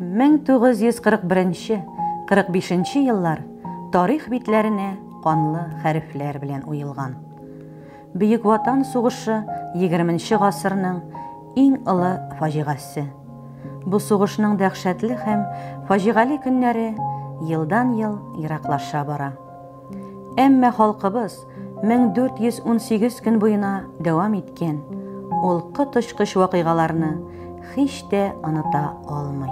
1941-45 нче еллар тарих битләренә канлы хәрефләр белән уелган. Бөек Ватан сугышы 20 нче гасырның иң олы фаҗигасе. Бу сугышның дәһшәтле һәм фаҗигале көннәре елдан-ел ераклаша бара. Әмма халкыбыз 1418 көн буена дәвам иткән ул коточкыч вакыйгаларны һич тә оныта алмый.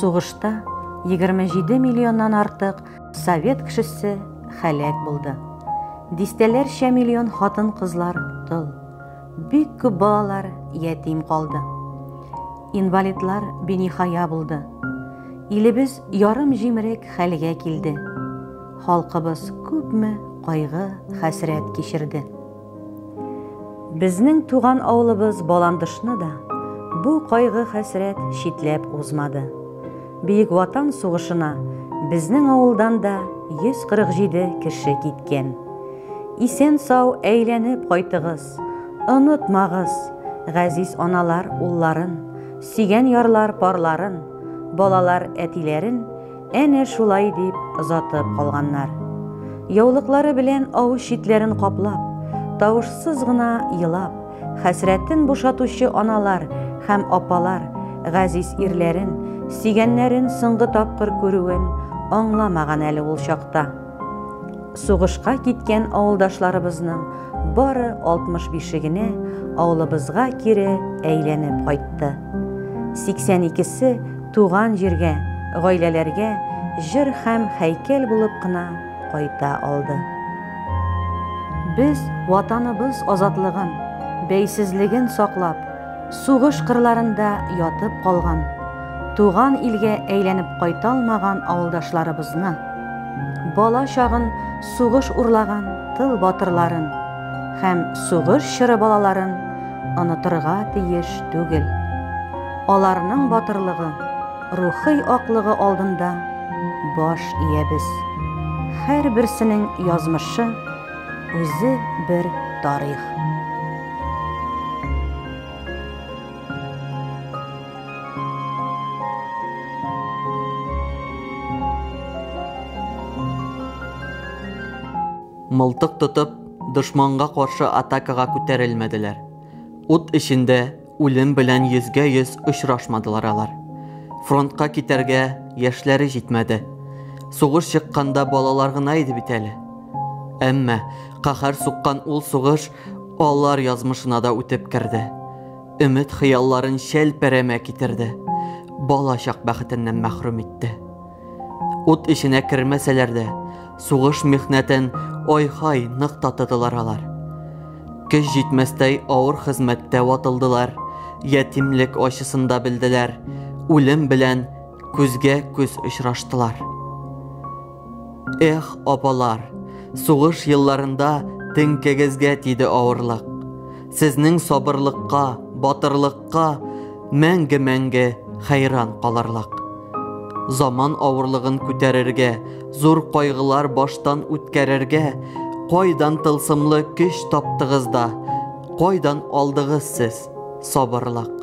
Сугышта 27 миллионнан артык совет кешесе хәләк булды. Дистәләрчә миллион хатын-кызлар тол. Бик күп балалар ятим калды. Инвалидлар биниһая булды. Илебез ярым җимерек хәлгә килде. Халкыбыз күпме кайгы, хәсрәт кичерде. Безнең туган авылыбыз Баландышны да бу кайгы, хәсрәт читләп узмады. Бөек Ватан сугышына безнең авылдан да 147 кеше киткән. Исән-сау әйләнеп кайтыгыз, онытмагыз, газиз аналар улларын, сөйгән ярлар парларын, балалар әтиләрен әнә шулай дип озатып калганнар. Яулыклары белән авыз читләрен каплап, тавышсыз гына елап, Хәсрәтен бушатучы аналар һәм апалар газиз ирләрен, сөйгәннәрен соңгы тапкыр күрүен аңламаган әле ул чакта. Сугышка киткән авылдашларыбызның бары 65-е генә авылыбызга кире әйләнеп кайтты. 82-се туган җиргә, гаиләләргә җыр һәм һәйкәл булып кына кайта алды. Без Ватаныбыз азатлыгын, бәйсезлеген саклап, сугыш кырларында ятып калган, туган илгә әйләнеп кайта алмаган авылдашларыбызны, бала чагын сугыш урлаган тыл батырларын һәм сугыш чоры балаларын онытырга тиеш түгел. Аларның батырлыгы, Рухый аклыгы алдында баш иябез. Һәрберсенең язмышы үзе бер тарих. Мылтык тотып, дошманга каршы атакага күтәрелмәделәр. Ут эчендә Үлем белән йөзгә-йөз очрашмадылар алар. Фронтка китәргә яшьләре җитмәде. Сугыш чыкканда балалар гына иде бит әле. Әмма каһәр суккан ул сугыш алар язмышына да үтеп керде. Өмет-хыялларын чәлпәрәмә китерде. Бала чак бәхетеннән мәхрүм итте. Ут эченә кермәсәләр дә, сугыш михнәтен ой-хай нык татыдылар алар. Көч җитмәстәй авыр хезмәттә ватылдылар, ятимлек ачысын да белделәр, үлем белән күзгә күз очраштылар. Эх, апалар, сугыш елларында теңкәгезгә тиде авырлык. Сезнең сабырлыкка, батырлыкка мәңге-мәңге хәйран калырлык. Заман авырлыгын күтәрергә, зур кайгылар баштан үткәрергә кайдан тылсымлы көч таптыгыз да, кайдан алдыгыз сез сабырлык?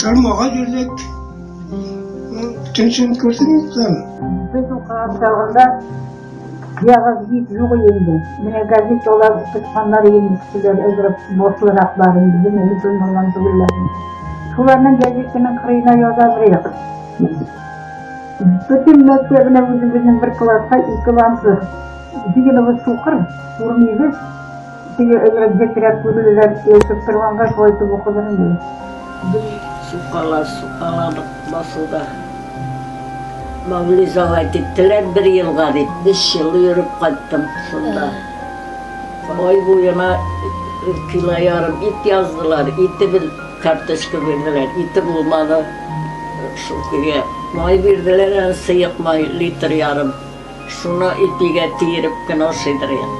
Тормага йөрдек. Төнчен күрдем икән. Без укыган чагында ягыз бик юк инде. Менә газет алар тычканнар инде кешеләр әзрәк мотлыраклар инде менә булмаган түгелләр. Шуларның газетының кырыена язабрыйк. Бөтен мәктәбенә үзебезнең бер класска ике лампы. Дигән сукыр, урмыйбыз. Сине өмет бетерә күрерләр, Яшәп торганга шулай итеп укыдыр инде. Бер сукала, сукала басуда. Мавлизага киттеләр бер елга дип, биш ел йөреп кайттым шунда. Ай буена кило ярым ит яздылар, ите бер карточка бирделәр, ите булмады. Шул көе май бирделәр, сыек май литр ярым. Шуны ипигә тиереп кенә ашыйдыр ел.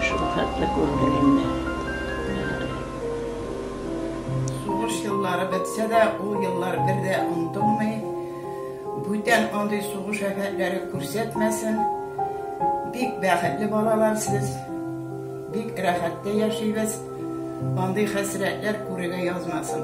Шул хәтле күрдек инде. Сугыш еллары бетсә дә, ул еллар бер дә онытылмый. Бүтән андый сугыш афәтләре күрсәтмәсен. Бик бәхетле балалар сез. Бик рәхәттә яшибез. Андый хәсрәтләр күрергә язмасын.